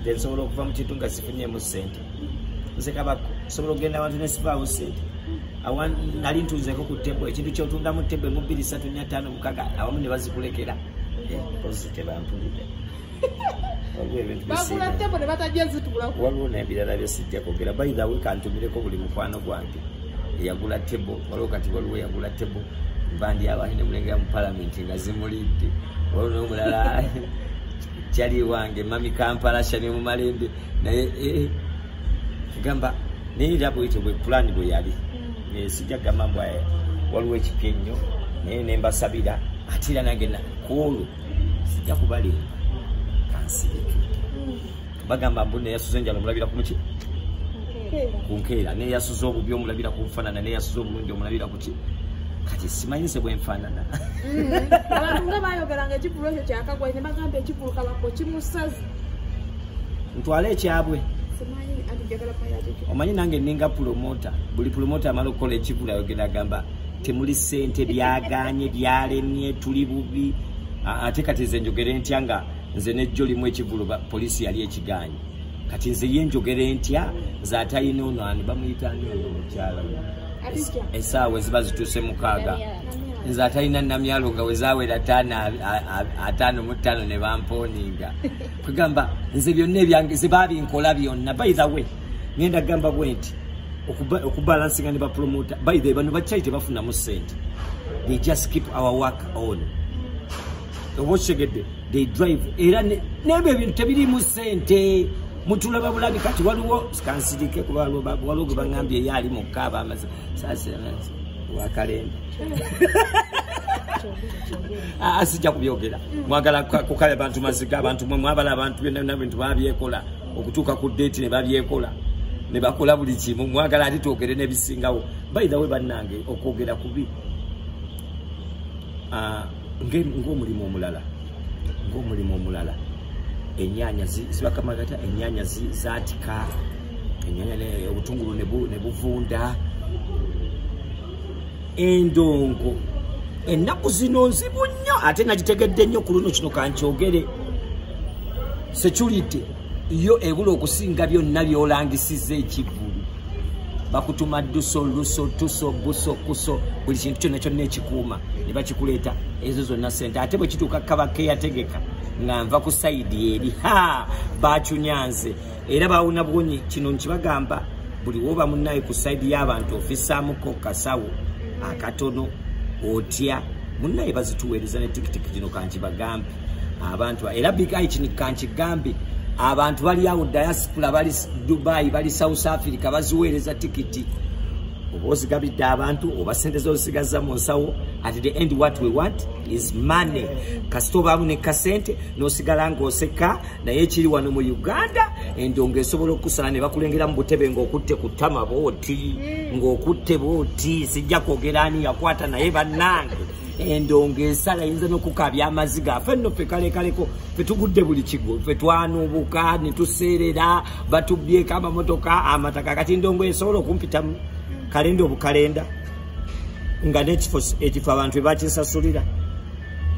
nze nsobola okuva mu kintu nga sifunyemu ssente nze kabako nsobola okugenda abantu ne sibaawo ssente awa nali ntunzeko ku tebo ekintu kyotundamu tebo emu bbiri satu nya ttaano mukaga awamu ne bazikulekera eh, kozi tebampulidde waliwo nebirala byesijja kwogera by the way kantumireko buli mukwano gwange eyagula tebo waliwo kati waliwo eyagula tebo mbandi abandi nemulengera mu palamenti nga zimulidde waliwo nomulala jali wange mami kampala shani mumalembe naye eh, kigamba naye era bwekyo bwe pulani bwe yali mm. sijja kugamba mbwa eh, waliwo ekipya ennyo naye nembasabira ate era nange kuolwo sijja kubalimba kansirike mm. bagamba mbu neyasuza enjala omulabira kumuki kunkeera neyasuza obubi omulabira kunfanana neyasuza obulungi omulabira kati simanyi se bwenfaanana mm. abantu nga bayogeranga ekivulu ekyo kyakagwa ne bagamba ekivulu kabako kimusazi ntwale ekyabwe omanyi nange ninga pulomota buli pulomota amala okukola ekivulu ayogera agamba temuli sente byaganye byalemye tuli bubi ate kati ze njogere ntya nga nze nejjo limu ekivulu polisi yali ekiganye kati nze ye njogera entya nze atalina ono ani bamuyita ani ono omukyala esaawa eziba zituuse mukaaga nze atalina namyalo nga wezawera ataano mu ttaano ne bampooninga kwegamba nze byonna ebyange ze babinkola byonna by the way ngenda kugamba bwe nti okubalansinga ne bapromota by the way bano bakyali tebafunamu ssente they just keep our work on oba okitegedde they drive era nebyo ebintu tebirimu sente mutulaba bulabi kati waliwo kansirike kuba waliwo gwe baŋambye eyo ali mukka aba amaze sasiransi wakalembe ah, asijja kubyogera mwagala kukala abantu maziga abantu mwe mwabala abantu byonna bintu babyekola okutuuka ku deeti ne babyekola ne bakola buli kimu mwagala ali twogere n'ebisingawo bayidhawe bannange okwogera kubi ah, ng'omulimu omulala ng'omulimu omulala ennyanya zibakamagata ennyanya zaatika ennyanya obutungulu ne buvunda endongo ennaku zino nzibu nnyo ate nagitegedde nnyo ku luno kino kankyogere security yo ebula okusinga byonna byolangisiza ekivulu bakutuma duso luso tuso buso kuso buli kintu kyonna kyonna ekikuuma ne bakikuleeta ezo zonna sente ate bwe kituuka kabake yategeka nga nva ku sayidi eri ha bakyunyanze era bawuna bwonyi kino nkibagamba buli woba munaye ku sayidi y'abantu ofisaamuko kasawo akatono otya munaye bazituweereza ne tikitiki gino kankibagambe abantu era big eye kini kanchi gambi abantu bali awo diaspora bali dubai bali south africa baziweereza tikiti oba ozigabidde abantu oba sente zozisigazza mu nsawo at the end what we want is money kasita obaamu ne kasente n'osigala ng'oseka naye ekiri wano mu uganda endo ng'esobola okusala ne bakulengera mu butebe ng'okutte ku tama booti ng'okutte booti sijja kwogera ani yakwata naye bannange endongo ensala yinza nokukabya amaziga afe nno fe kalekaleko fe tugudde buli kigo fe twanuubuka ne tuseerera batubbyeko amamotoka amataka kati ndongo esobola okumpitamu kalenda obukalenda nga nekifo ekifo abantu ebakisasulira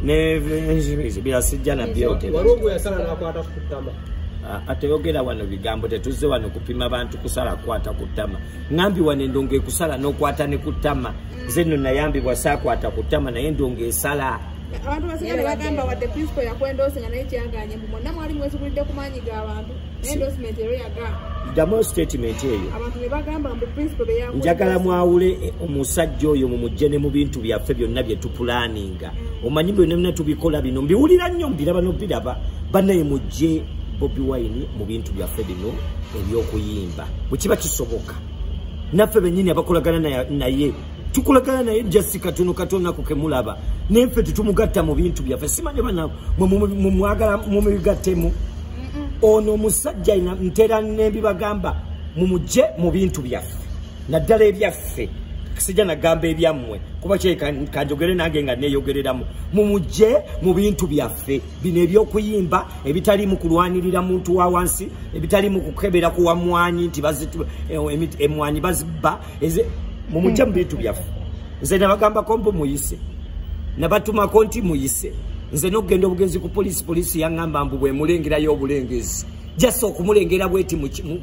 nebirasijja nabyogeratama ateyogera wano bigambo tetuzze wano kupima bantu kusala kwata kutama ngambi wano endongo ekusala nokwata ne kutama nze nno nayambibwa saakwata ku ttama naye ndonga esala abantu basigale bagamba wadde principal yakwendose nga naye kyaganye mbu mwonna mwali mwezigulidde ku maanyi ga bantu endosement ero yaga ddamu statement eyo abantu ne bagamba mbu principal beya njagala mwawule eh, omusajja oyo mu mujje ne mu bintu byaffe byonna bye tupulaninga mm. omanyi byonna byonna tubikola bino mbiwulira nnyo mbiraba nobiraba banaye mujje bobi wine mu bintu byaffe bino ebyokuyimba bwekiba kisoboka naffe benyini abakolagana naye tukolagana naye jasi katono katona kukemulaba naye ffe tetumugatta mu bintu byaffe simanya bana mwagala mumigattemu ono omusajja ina ntera nebibagamba mumugye mu bintu byaffe naddala ebyaffe sijja nagamba ebyammwe kuba kyekanjogere nange nga neyogereramu mumugye mu bintu byaffe bino ebyokuyimba ebitalimu kulwanirira muntu wa wansi ebitalimu kukebera ku wamwanyi nti eh, emwanyi bazibba mumujja mu bintu byaffe nze nabagambako mbu muyise nabatumako nti muyise nze nokugenda obugenzi ku polisi polisi yaŋamba mbu bwemulengerayo obulengezi jasa okumulengera bweti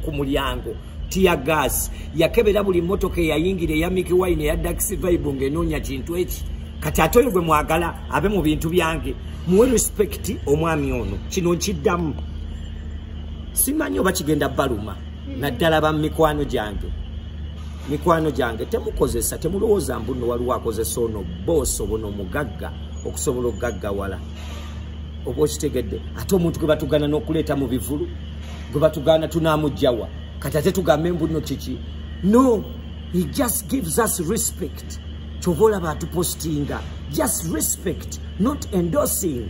ku mulyango tiya gas yakebera buli motoka eyayingira eya miki wine eya daxi vibe ng'enoonya kintu eki kati ate oyo gwe mwagala abe mu bintu byange muwe respect omwami ono kino nkiddamu simanyi oba kigenda baluma naddala ba mikwano gyange mikwano gyange temukozesa temulowooza mbuno waliwo akozesa ono boosi obona omugagga okusobola okugaggawala oba okitegedde ate omuntu gwe batugana n'okuleeta mu bivulu gwe batugana tunamujjawa kati ate tugambe mbu no kiki no he just gives us respect kyova olaba atupostinga just respect not endorsing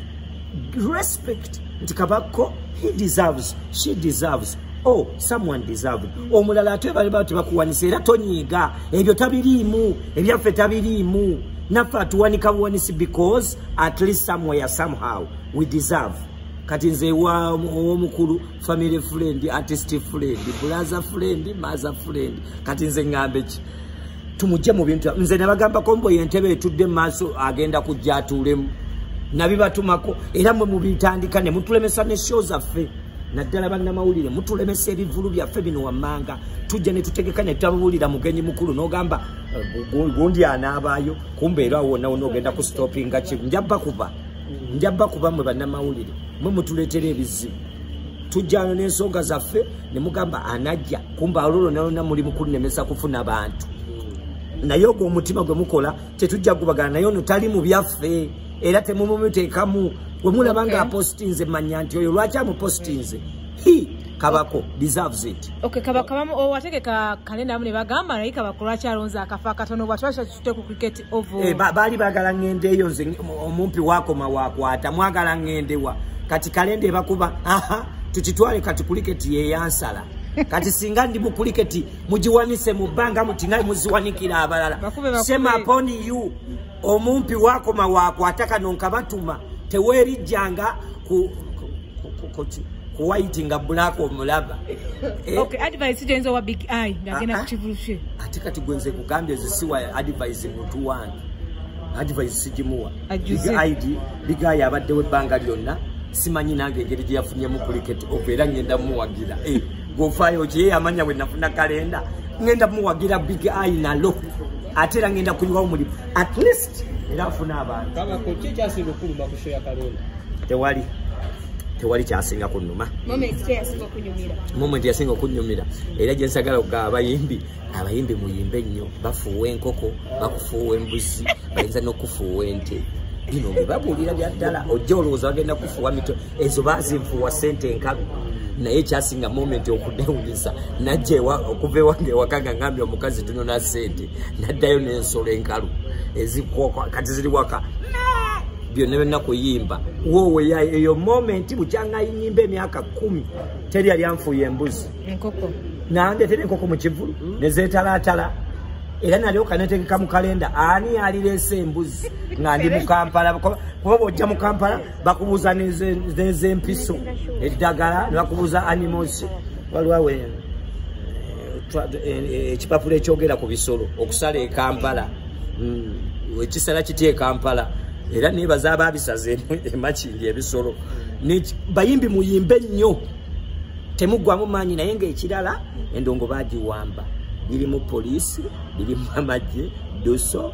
respect nti kabakko he deserves she deserves oh someone deserved omulala ate bali bati bakuwanisa era tonyiiga ebyo tabiriimu ebyaffe tabiriimu naffe atuwanika buwanisi because at least somewhere somehow we deserve kati nze wa owomukulu family friend artist friend bulaza friend maza friend kati nze ngambe ki tumujje mu bintu nze nabagamba kombo yentebe etudde maaso agenda kujja atuulemu nabibatumako era mwe mubitandika ne mutulemesa ne show zaffe naddala bannamawulire mutulemesa ebivulu byaffe bino wammanga tujja ne tutegeka ne tutabuulira mugenyi mukulu n'ogamba eh, gundi anaabaayo kumbeera wonna wonna ogenda ku stoppinga kimu njabba kuba njabba kuba mwe bannamawulire mwe mutuleetera ebizibu tujjano n'ensonga zaffe ne mugamba anajja kumba ololo nalona muli mukunnemesa kufuna bantu naye ogwo omutima gwe mukola tetujja gubagana naye ono tali mu byaffe era temumumuteekamu gwe mulaba nga apostinze manya nti oyo lwaki amupostinze hi kabako deserves it okay kabako bamu owategeka oh, kale namu ne bagamba naye kabako lwaki alonze akafa katono bwatwasha kite ku cricket Eh, baali bagala ngende eyo nze omumpi wakoma wakwata mwagala ngendewa kati kalenda ebakuba aha tukitwale kati kuliketi yeyansala kati singa ndi mukuliketi mugiwanise mu bbanga muti naye muziwanikira abalala sema upon you omumpi wakoma wakwata kano nkabatuma tewerijjanga ku ku white nga black omulaba eh? okay advice jenzo wa big eye nga gena ah, ah. kivulshe ate kati gwenze kugambye zisiwa advice mutu wange advice sijimuwa big eye big eye abadde we banga lyonna simanyi nange ngeri gye yafunyemu kuliketi ova era ngenda muwagira eh, gofayo kye yamanya bwe nafuna kalenda ngenda muwagira big eye nalo ate era ngenda kuyiwawo mulimu at least era afuna abantu tewali tewali kyasinga kunuma moment yasinga okunyumira era gyensagala okugaa abayimbi abayimbi muyimbe nnyo bafuuwa enkoko bakufuuwa embuzi bayinza nokufuuwa ente bino byebabuulira byaddala ojja olowooza bagenda kufuuwa mitwe ezo bazinfuwa sente enkalu naye kyasinga moment okudewunyisa najja okuva ewange ewaka nga ngambye omukazi tunona sente naddayo nensolo enkalu ezikwoka kati ziri waka byonna byonna kuyimba wowe eyo moment bukyanga yinyimba emyaka kumi teri yali anfuuya embuzi nange teri enkoko mu kivulu nezetalatala era nalyoka netegeka mu kalenda ani yalirese embuzi nga ndi mukampala kuba bwojja mukampala bakubuuza nezempiso eddagala nebakubuuza animals waliwawe eh, eh, eh, ekipapula ekyogera ku bisolo okusala ekampala hmm, ekisala kitya ekampala era nebaza ababisaze emakindi ebisolo bayimbi muyimbe nnyo temuggwamu maanyi naye ngaekirala endongo bagiwamba biri mu poliisi biri mu amagye duso